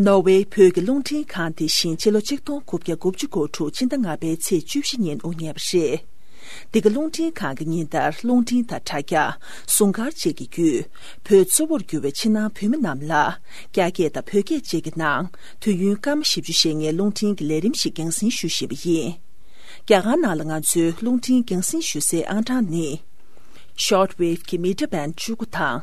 ནོར་ཝེ་བོད་ཀྱི་རླུང་འཕྲིན་ཁང་དེ་བཞིན་ཕྱི་ལོ་ཆིག་སྟོང་དགུ་བརྒྱ་དགུ་བཅུ་གོ་དྲུག་ཕྱི་ཟླ་ལྔ་པའི་ཚེས་བཅུ་བཞི་ཉིན་དབུ་བརྙེས་པ་རེད། འདི་ག་རླུང་འཕྲིན་ཁང་གི་ཉིན་ལྟར་རླུང་འཕྲིན་དང་དྲ་རྒྱ། ཟུང་སྐར་བཅས་ཀྱི་བརྒྱུད། བོད་གཙོ་བོར་གྱུར་བའི་ཕྱི་ནང་བོད་མི་རྣམས་ལ། རྒྱ་སྐད་དང་བོད་སྐད་བཅས་ཀྱི་ནང་དུས་ཡུན་སྐར་མ་བཞི་བཅུ་ཞེ་ལྔའི་རླུང་འཕྲིན་གྱི་ལས་རིམ་ཞིག་འགན་སྲིང་ཞུ་བཞིན་པ་ཡིན། རྒྱ་གར་ནང་ལ་ང་ཚོའི་རླུང་འཕྲིན་འགན་སྲིང་ཞུ་སའི་ཨང་གྲངས་ནི། Shortwave། གྱི Mita Band བཅུ་དགུ་དང།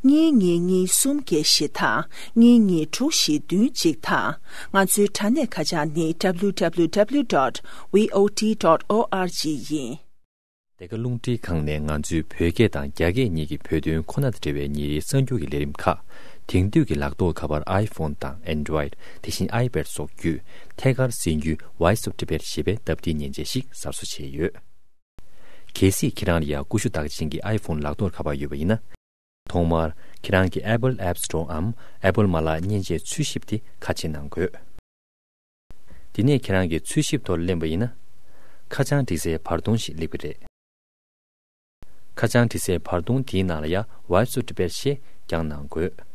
གཉིས་གཉིས་གཉིས་གསུམ་བརྒྱད་བཞི་དང་གཉིས་གཉིས་དྲུག་བཞི་བདུན་གཅིག་དང། ང་ཚོའི་དྲ་གནས་ཁ་བྱང་ནི www dot voot dot org ཡིན། འདི་ག་རླུང་འཕྲིན་ཁང་ནས་ང་ཚོའི་བོད་སྐད་དང་རྒྱ་སྐད་གཉིས་ཀྱི་བོད་དོན་ཁོ་ན་དང་འབྲེལ་བའི་ཉིན་རེའི་གསར་འགྱུར་གྱི་ལས་རིམ་ཁག་དེང་དུས་ཀྱི་ལག་ཐོགས་ཁ་པར iPhone དང Android དེ་བཞིན iPad སོགས་བརྒྱུད་ཐད་ཀར་གསན་རྒྱུའི Voice of Tibet ཞེས་པའི་སྟབས་བདེའི་མཉེན་ཆས་ཤིག་གསར་བཟོ་བྱས་ཡོད། གལ་སྲིད་ཁྱེད་རང་ལ་ཡང་ཀུ་ཤུ་བདག་ཅན་གྱི iPhone ལག་ཐོགས་ཁ་པར་ཡོད་པ་ཡིན་ན། ཐོག་མར། ཁྱེད་རང་གི Apple App Store འམ Apple མ་ལག་མཉེན་ཆས་འཚོལ་ཞིབ་དེ་ཁ་ཕྱེ་གནང་དགོས། དེ་ནས་ཁྱེད་རང་གི་འཚོལ་ཞིབ་ཐོར་གླེང་བ་ཡིན་ན། ཁ་བྱང་འབྲི་སའི་བར་སྟོང་ཞིག་གླེགས་པ་རེད། ཁ་བྱང་འབྲི་སའི་བར་སྟོང་དེའི་ནང་ལ་ཡང Wipe to Debate ཞེས་ཀྱང་གནང་དགོས།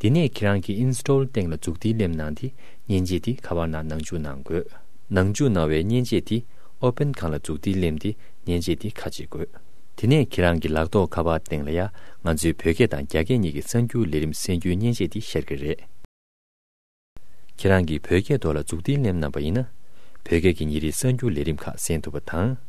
དེ་ནས་ཁྱེད་རང་གི Install སྟེང་ལ་འཛུགས་ཏེ་སླེབས་གནང་དེ་མཉེན་ཆས་དེ་ག་བར་ན་ནང་འཇུག་གནང་དགོས། ནང་འཇུག་གནང་བའི་མཉེན་ཆས་དེ Open གང་ལ་འཛུགས་ཏེ་སླེམས་ཏེ་མཉེན་ཆས་དེ་ཁ་འབྱེད་དགོས། དེ་ནས་ཁྱེད་རང་གི་ལག་ཐོག་ཁ་པར་སྟེང་ལ་ཡ་ང་ཚོའི་བོད་སྐད་དང་རྒྱ་སྐད་གཉིས་ཀྱི་གསར་འགྱུར་ལས་རིམ་གསལ་འགྱུར་མཉེན་ཆས་དེ་ཤར་གྱི་རེད། ཁྱེད་རང་གིས་བོད་སྐད་ཐོག་ལ་འཛུགས་ཏེ་སླེམས་གནང་བ་ཡིན་ན། བོད་སྐད་ཀྱི་ཉིན་རེའི་གསར་འགྱུར་ལས་རིམ་ཁག་གསན་ཐུབ་པ་དང།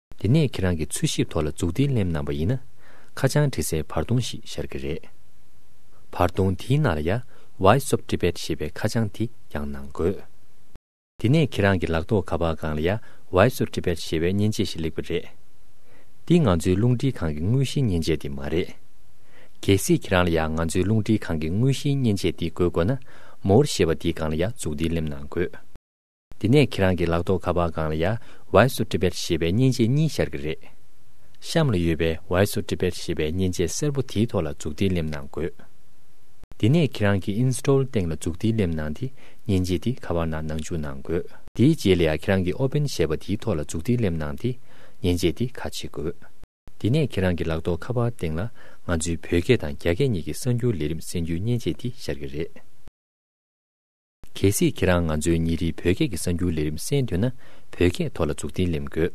དེ་ནས་ཁྱེད་རང་གི་འཚོལ་ཞིབ་ཐོག་ལ་འཛུགས་ཏེ་གླེམ་གནང་པ་ཡིན་ན། ཁ་བྱང་བྲིས་སའི་བར་སྟོང་ཞིག་ཤར་གི་རེད། བར་སྟོང་དེའི་ནང་ལ་ཡཱ། Voice of Tibet ཞེས་པའི་ཁ་བྱང་དེ་ཡང་གནང་དགོས། དེ་ནས་ཁྱེད་རང་གི་ལག་ཐོག་ཁ་པར་སྒང་ལ་ཡཱ། Voice of Tibet ཞེས་པའི་མཉེན་ཆས་ཞིག་ལེགས་པ་རེད། འདི་ང་ཚོའི་རླུང་འཕྲིན་ཁང་གི་དངོས་གཞིའི་མཉེན་ཆས་དེ་མ་རེད། གལ་སྲིད་ཁྱེད་རང་ལ་ཡཱ་ང་ཚོའི་རླུང་འཕྲིན་ཁང་གི་དངོས་གཞིའི་མཉེན་ཆས་འདི་དགོས་དགོས་ན། More ཞེས་པ་དེའི་སྒང་ལ་ཡཱ་འཛུགས་ཏེ་གླེམ་གནང་དགོས། དེ་ནས་ཁྱེད་རང་གི་ལག་ཐོག་ཁ་པར་སྒང་ལ་ཡ་བྷའི་སུ་ཏྲི་བེད་ཞེས་པའི་མཉེན་ཆས་གཉིས་ཤར་གི་རེད། གཤམ་ལ་ཡོད་པའི་བྷའི་སུ་ཏྲི་བེད་ཞེས་པའི་མཉེན་ཆས་སེར་པོ་དེའི་ཐོག་ལ་འཛུགས་ཏེ་སླེབས་གནང་དགོས། དེ་ནས་ཁྱེད་རང་གི Install སྟེང་ལ་འཛུགས་ཏེ་སླེབས་གནང་སྟེ་མཉེན་ཆས་དེ་ཁ་པར་ནང་ནང་འཇུག་གནང་དགོས། དེའི་རྗེས་ལ་ཡ་ཁྱེད་རང་གི Open ཞེས་པ་དེའི་ཐོག་ལ་འཛུགས་ཏེ་སླེབས་གནང་སྟེ་མཉེན་ཆས་དེ་ཁ་ཕྱེ་དགོས། དེ་ནས་ཁྱེད་རང་གི་ལག་ཐོག་ཁ་པར་སྟེང་ལ་ང་ཚོའི་བོད་སྐད་དང་རྒྱ་སྐད་གཉིས་ཀྱི་གསར་འགྱུར་ལས་རིམ་གསན་རྒྱུའི་མཉེན་ཆས་དེ་ཤར་གི་རེད། གལ་སྲིད་ཁྱེད་རང་ང་ཚོའི་ཉིན་རེའི་བོད་སྐད་ཀྱི་གསར་འགྱུར་ལས་རིམ་གསན་འདོད་ན་བོད་སྐད་ཐོག་ལ་འཛུགས་ཏིང་ལེམ་དགོས།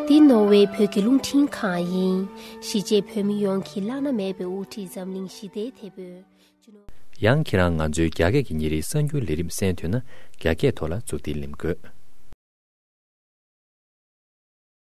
འདི་ནོར་ཝེ་བོད་ཀྱི་རླུང་འཕྲིན་ཁང་ཡིན། གཞིས་བྱེས་བོད་མི་ཡོངས་ཀྱིས་བླ་ན་མེད་པའི་དབུ་ཁྲིད་འཛམ་གླིང་ཞི་བདེའི་དེད་དཔོན། ཡང་ཁྱེད་རང་ང་ཚོའི་རྒྱ་སྐད་ཀྱི་ཉིན་རེའི་གསར་འགྱུར་ལས་རིམ་གསན་འདོད་ན་རྒྱ་སྐད་ཐོག་ལ་འཛུགས་ཏིང་ལེམ་དགོས།